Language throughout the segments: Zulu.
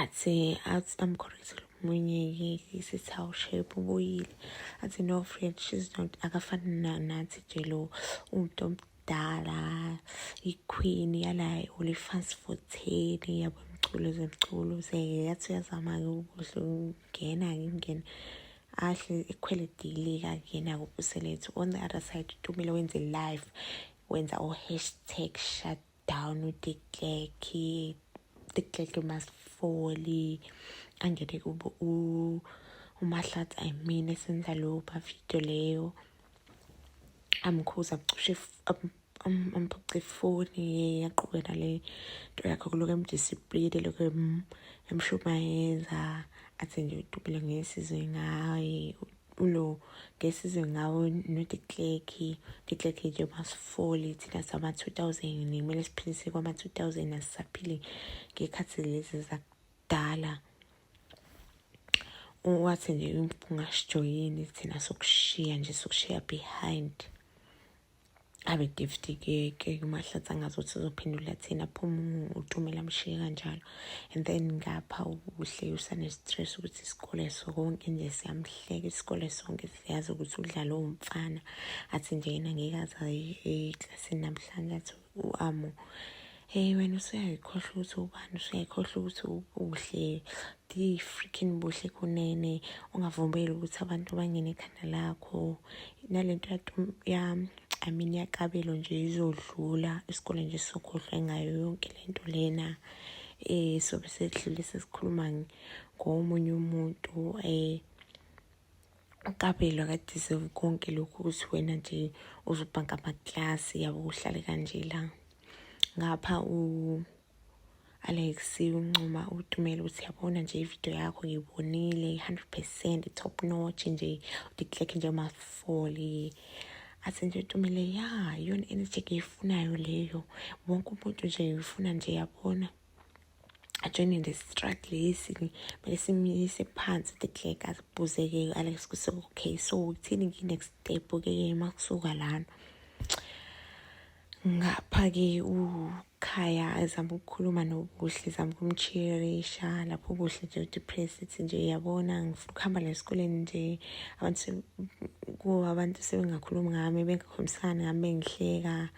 athi athi amkhorezile omunye yeke sithi hawu shape ubuyile athi no friend she's not akafani nathi nje lo umuntu omdala iqueen yala olifans for ten yabo mculo zemculo seke yathi uyazama-ke ukuhle ukungena ngingena ahle ekhwele dilika kuyena kubuselethu on the other side tumile wenze live wenza o-hashtag shut down udikleki dikleki umasifoli angene kubo umahlathi i mean esenza lowo bavidiyo leyo amkhuza abucushe amphuce ifoni yaqhube nale nto yakho kuloko emdisipline lokho emshumayeza athi nje udubule ngesizwe ngaye ulo ngesizwe ngawo nodikleki dikleki nje masifoli thina sama-2000 kumele siphilise kwama-2000 asisaphili ngekhathi lezi zakudala wathi nje ungasijoyini thina sokushiya nje sokushiya behind abe giftikeke umahlathi angazi ukuthi uzophendula thina aphuma uthumela mshiye kanjalo and then ngapha ubuhle usanestress ukuthi isikole sonke nje siyamhleka isikole sonke siyazi ukuthi udlala owumfana athi nje yena ngeke aze eklasini namhlanje athi uAmo hey wena usuyayikhohlwa ukuthi ubani usuyayikhohlwa ukuthi ubuhle di freaking buhle kunene ungavumbeli ukuthi abantu bangene ekhanda lakho nalento ya I mean yakabelo nje izodlula isikole nje sokhohlwa ngayo yonke lento lena eh sobe sedlule sesikhuluma ngomunye umuntu eh uqabelo akadeserve konke lokhu ukuthi wena nje uzobhanka amaklasi yabo uhlale kanje la ngapha u Alex uncoma utumela ukuthi yabona nje ivideo yakho ngiyibonile 100% top notch nje udikleke nje amafoli athi nje utumele ya yona energy eyifunayo leyo wonke umuntu nje uyifuna nje yabona ajoyine nje struggle lesi kumele simyise phansi the clerk azibuzeke alex kuse okay so uthini ngi-next step ke uma kusuka lana ngapha ke ukhaya ezama ukukhuluma nobuhle zama ukumcheerisha lapho ubuhle nje udepressed nje yabona ngifuna ukuhamba la esikoleni nje abantu kuwo abantu sebengakhulumi ngami bengakhulumisani ngami bengihleka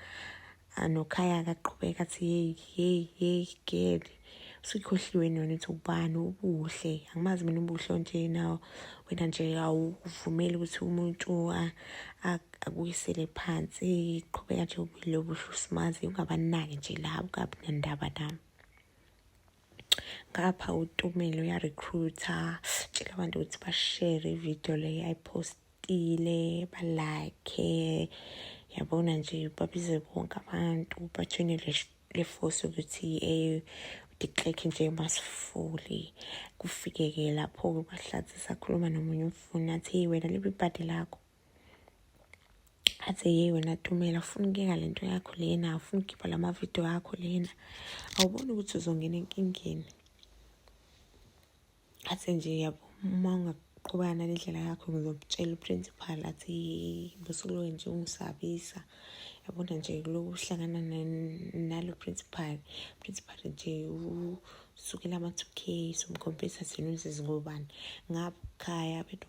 anokhaya akaqhubeka athi yeyi yeyi yeyi geli usikhohliwe nona ukuthi ubani ubuhle angimazi mina ubuhle onje nawo wena nje awuvumeli ukuthi umuntu akuyisele phansi qhubeka nje ubile obuhle usimazi ungabanaki nje labo kabi nendaba nami ngapha utumile uyarecruita tshela abantu ukuthi bashere ividiyo leyo ayipostile balakhe yabona nje babize bonke abantu bathune le force ukuthi um udiclekhe nje masifuli kufike-ke lapho-ke ubahlathi sakhuluma nomunye umfuni athi wena libe ibhadi lakho athe yeyi wena tumela ufuna ukuyeka le nto yakho lena ufuna ukhipha la mavidiyo akho lena awuboni ukuthi uzongena enkingeni athe nje yabo uma ungaqhubana nendlela yakho ngizomtshela uprincipal athi busukuloke nje ungisabisa yabona nje kuloku uhlangana nalo principal principal nje usukela ama-two k somkhompisa sinuzizingobani ngaphaya bethu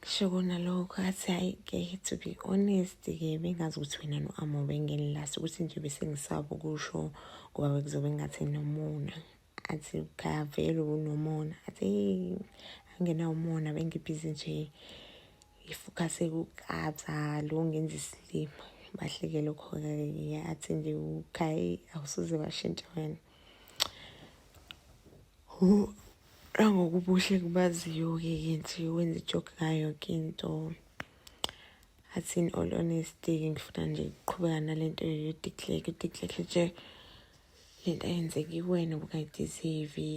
kusho kona lokho athi hhayi ke to be honest ke bengazi ukuthi wena no-amo bengenilasi ukuthi nje besengisaba ukusho ngoba bekuzobe ngathi nomona athi kavele unomona athi angenawo umona bengibhizi nje ngifukase kukabza lo ngenza isilima bahleke lokho-ke athi nje ukhayi awusuze washintsha wena angokubuhle kubaziyo-ke ke nje wenza ijoke ngayo yonke into athi in all honesty ngifuna nje ukuqhubeka nale nto yodiclake udiclake nje le nto ayenzeki kuwena obungayideserve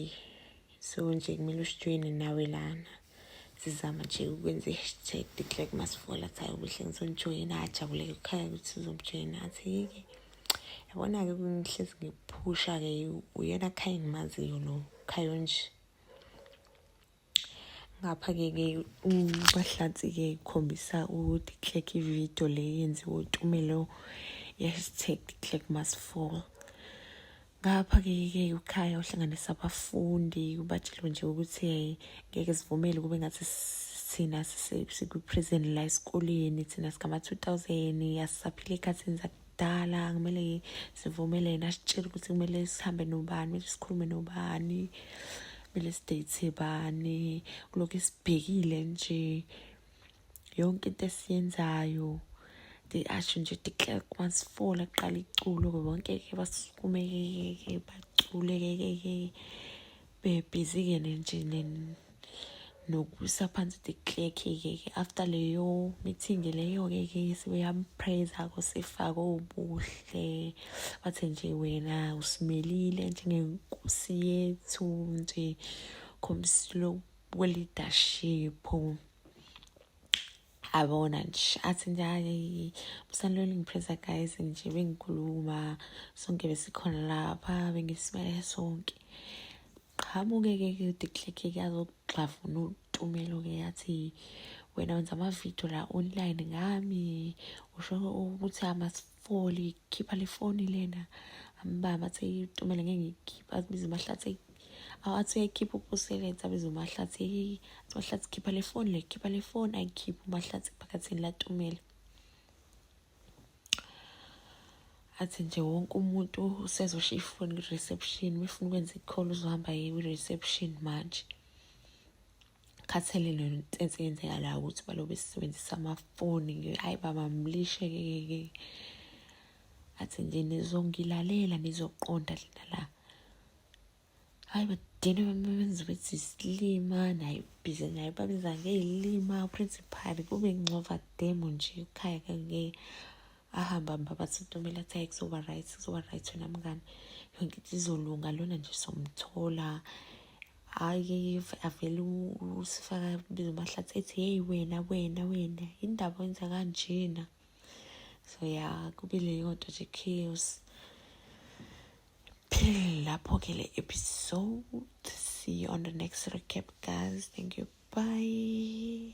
so nje kumele ushitshweni nawe lana sizama nje ukwenza i-hashtag declare masifola athi hayi ubuhle ngizonijoyina ajabuleke kukhaya ukuthi sizomjoyina athi yike yabona-ke ngihlezi ngiphusha-ke uyena khaya engimaziyo lo khayo nje ngapha-ke ke ubahlatsi-ke ikhombisa ukuthi click ividiyo le yenziwe utumelo i-hashtag click must fall ngapha-ke ke ukhaya uhlanganisa abafundi ubatshelo nje ukuthi ngeke sivumele kube ngathi thina sikwi-prison la esikoleni thina sikama-two thousand asisaphile ekhathini zakudala kumele sivumele yena asitshele ukuthi kumele sihambe nobani kumele sikhulume nobani kumele sideyithe bani kulokhu esibhekile nje yonke into esiyenzayo asho nje declerk masifola kuqala iculo-ke bonke-ke basukumekekeke baculekekeke bebhizi-ke nje nokusa phansi declerk-ke after leyo meeting leyo-ke ke sebeyamprayza-ko sefake obuhle bathe nje wena usimelile njengenkosi yethu nje khombisile kwe-leadership abona nje athi nje hayi musanilwela ngipresa guys nje bengikhuluma sonke besikhona lapha bengisimele sonke qhamuke-ke kudikleke kuyazokugxavuna utumelo-ke yathi wena wenza amavidiyo la online ngami usho ukuthi foli khipha le foni lena ambaba athi itumele ngeke ngikhipha abize umahlathi awathi uyayikhipha ukusebenza abize umahlathi eyi athi umahlathi khipha le foni le khipha le foni ayikhiphe umahlathi phakathini latumele athi nje wonke umuntu usezoshiya ifoni kwi-reception uma efuna ukwenza i-call uzohamba ye kwi-reception manje khathele lento ense yenzeka la ukuthi balobe sisebenzisa amafoni ke hayi baba mlishe ke ke athi nje nizongilalela nizoqonda lena la hayi badine bamenza ukuthi isilima naye bhizi naye babiza ngeyilima principal kube ngcova demo nje ekhaya kange ahamba hamba bathi ntomela athi hayi kuzoba right kuzoba right wena mngani yonke into izolunga lona nje somthola hayi avele usifaka biza umahlathi ethi heyi wena wena wena indaba wenza kanjena so ya kube leyo nto nje chaos phelele lapho-ke le episode see you on the next recap guys thank you bye